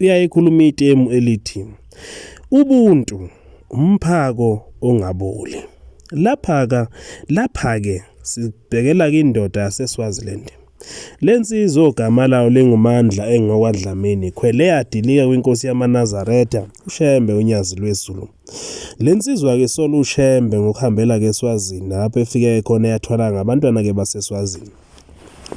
uyayikhuluma itemu elithi ubuntu umphako ongaboli. Lapha-ka lapha-ke sibhekela kindoda yaseSwaziland. Le nsizwa ogama layo lingumandla engokwadlamini khwele yadilika kwinkosi yamanazaretha ushembe unyazi lwezulu le nsizwa ke sola ushembe ngokuhambela ke eswazini lapho efike khona yathwala ngabantwana ke baseswazini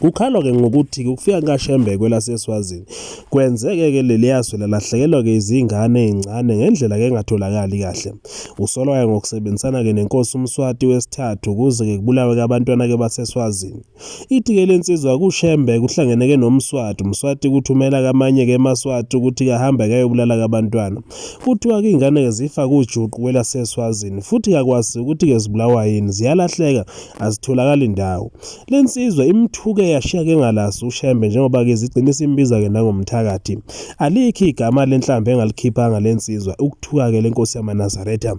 Kukhalwa-ke ngokuthi-ke ukufika kukaShembe kwelaseSwazini kwenzeke-ke leliya zwe lalahlekelwa-ke izingane ey'ncane ngendlela-ke engatholakali kahle. Usolwa-ke ngokusebenzisana-ke nenkosi uMswati wesithathu ukuze-ke kubulawe-ke abantwana-ke baseSwazini. Ithi-ke le nsizwa kuShembe kuhlangene-ke noMswati, uMswati ukuthi umela-ke amanye-ke eMaswati ukuthi-ke ahambe-ke ayobulala-ke abantwana. Kuthiwa-ke iy'ngane-ke zifa kujuqu kwelaseSwazini futhi kakwazi ukuthi-ke zibulawa yini, ziyalahleka azitholakali ndawo. Le nsizwa imthuke yashiya ke ngalaso uShembe njengoba ke zigcine simbiza ke nangomthakathi. Alikhi igama lenhlambe engalikhiphanga le nsizwa ukuthuka ke lenkosi yamaNazaretha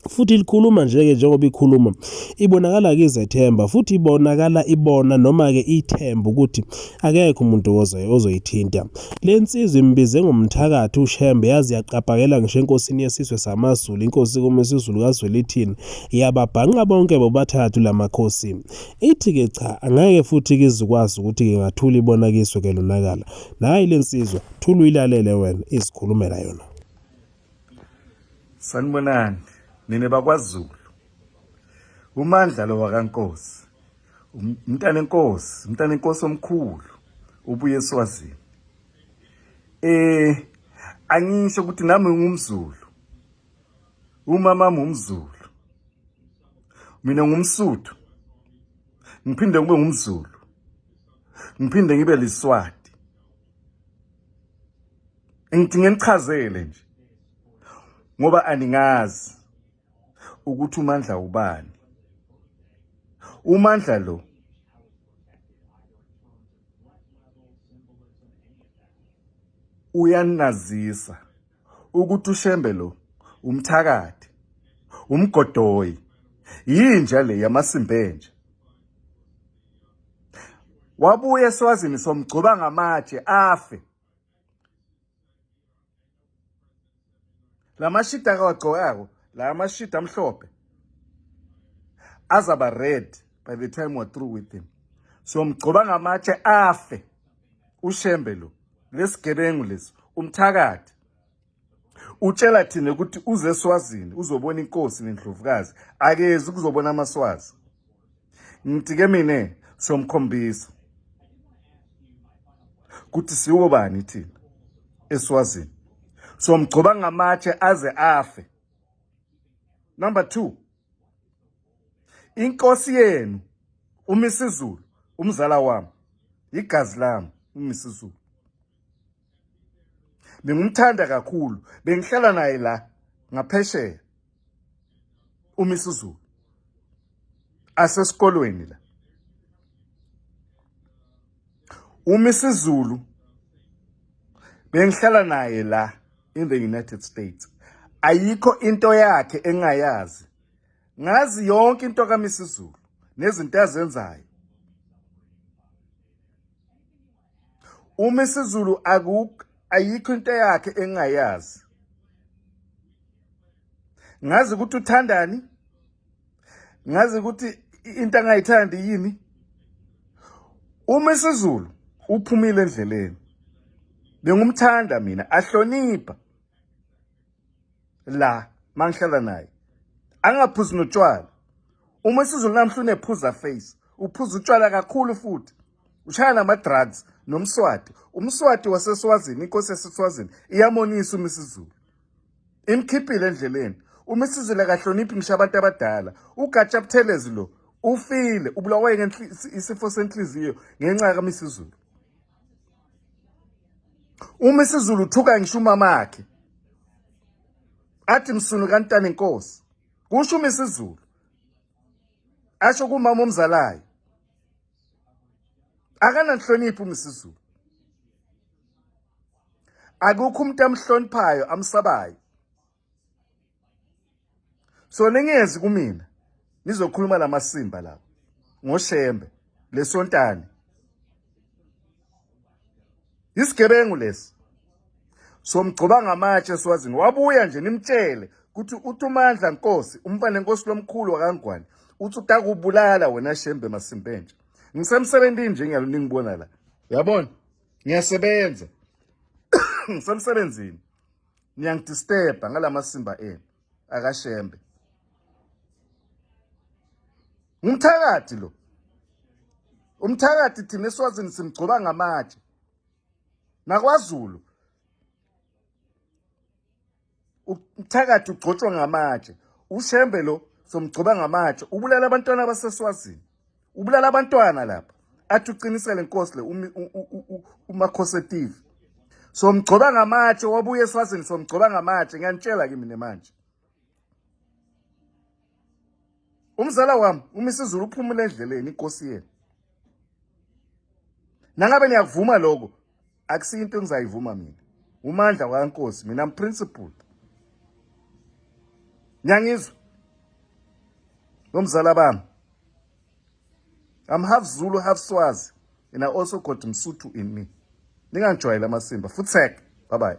futhi likhuluma nje-ke njengoba ikhuluma ibonakala ke izethemba futhi ibonakala ibona noma-ke ithemba ukuthi akekho umuntu ozoyithinta le nsizwa imbize ngomthakathi ushembe yazi yaqapakela ngisho enkosini yesizwe samazulu inkosi kumisizulu kazwelithini yababhanqa bonke bobathathu lamakhosi ithi ke cha angeke futhi kizikwazi ukuthi ke ngathula ibona kiso ke lonakala nayi lensizwa thula uyilalele wena izikhulumela yona sanibonani nina bakwaZulu umandla lo wakankosi um, umntana enkosi umntana enkosi omkhulu ubuye eswazini eh angisho ukuthi nami ngumzulu Umama ngumzulu. Mina ngumsuthu. Ngiphinde kube ngumzulu. Ngiphinde ngibe liswati. Ngidinga nichazele nje. Ngoba aningazi ukuthi uMandla ubani. UMandla lo uyanazisa ukuthi ushembe lo umthakathi umgodoyi yinja le yamasimbenje wabuye eswazini somgcoba ngamatshe afe la mashidi akawagcokako la mashidi amhlophe azaba red by the time we're through with him so mgcoba ngamatshe afe ushembe lo lesigebengu lesi umthakathi utshela thina ukuthi uze eswazini uzobona inkosi nendlovukazi akezi kuzobona amaswazi ngithi ke mina somkhombisa ukuthi siwo bani thina eswazini somgcoba ngamatshe aze afe number 2 inkosi yenu umisizulu umzala wami igazi lami umisizulu bengumthanda kakhulu bengihlala naye la ngaphesheya umisizulu asesikolweni la umisizulu bengihlala naye la in the United States. Ayikho into yakhe engayazi. Ngazi yonke into kaMisizulu nezinto azenzayo. UMisizulu akukho ayikho into yakhe engayazi. Ngazi ukuthi uthandani ngazi ukuthi into angayithandi yini uma isizulu uphumile endleleni bengumthanda mina ahlonipha la mangihlala naye angaphuzi notshwala uma isizulu namhla unephuza face uphuza utshwala kakhulu futhi ushaya nama-drugs nomswati umswati waseswazini inkosi yaseswazini iyamonisa uma isizulu imkhiphile endleleni uma isizile kahloniphi ngisho abantu abadala ugatsha buthelezi lo ufile ubulawaye isifo senhliziyo ngenxa kamisizulu uma isizulu uthuka ngisho umama akhe athi msunu kantana inkosi kusho uma isizulu asho kumama omzalayo akananhloniphi uma isizulu akukho umuntu amhloniphayo amsabayo so ningezi kumina nizokhuluma lamasimba lawo ngoshembe lesontane isigebengu lesi somgcoba ngamatshe swazini wabuya nje nimtshele ukuthi uthi umandla nkosi umfana nkosi lomkhulu wakangwane uthi utakubulala wena shembe masimpentsha ngisemsebenzini nje ngiyalo ningibona la yabona ngiyasebenza ngisemsebenzini niyangidisturba ngalamasimba enu akashembe ngumthakathi lo umthakathi thina eswazini simgcoba ngamatshe nakwazulu umthakathi ugcotshwa ngamatshe ushembe lo somgcoba ngamatshe ubulala abantwana baseswazini ubulala abantwana lapha athi uqinisele inkosi le umakhosetive somgcoba ngamatshe wabuye eswazini somgcoba ngamatshe ngiyanitshela kimi nemanje umzala wami umisizulu uphumula endleleni inkosi yena nangabe niyakuvuma lokho akusiyo into engizayivuma mina umandla wakankosi mina mprinciple nyangizwa nomzala bami i'm half zulu half swazi and i also got msuthu in me ningangijwayela amasimba futsek bye bye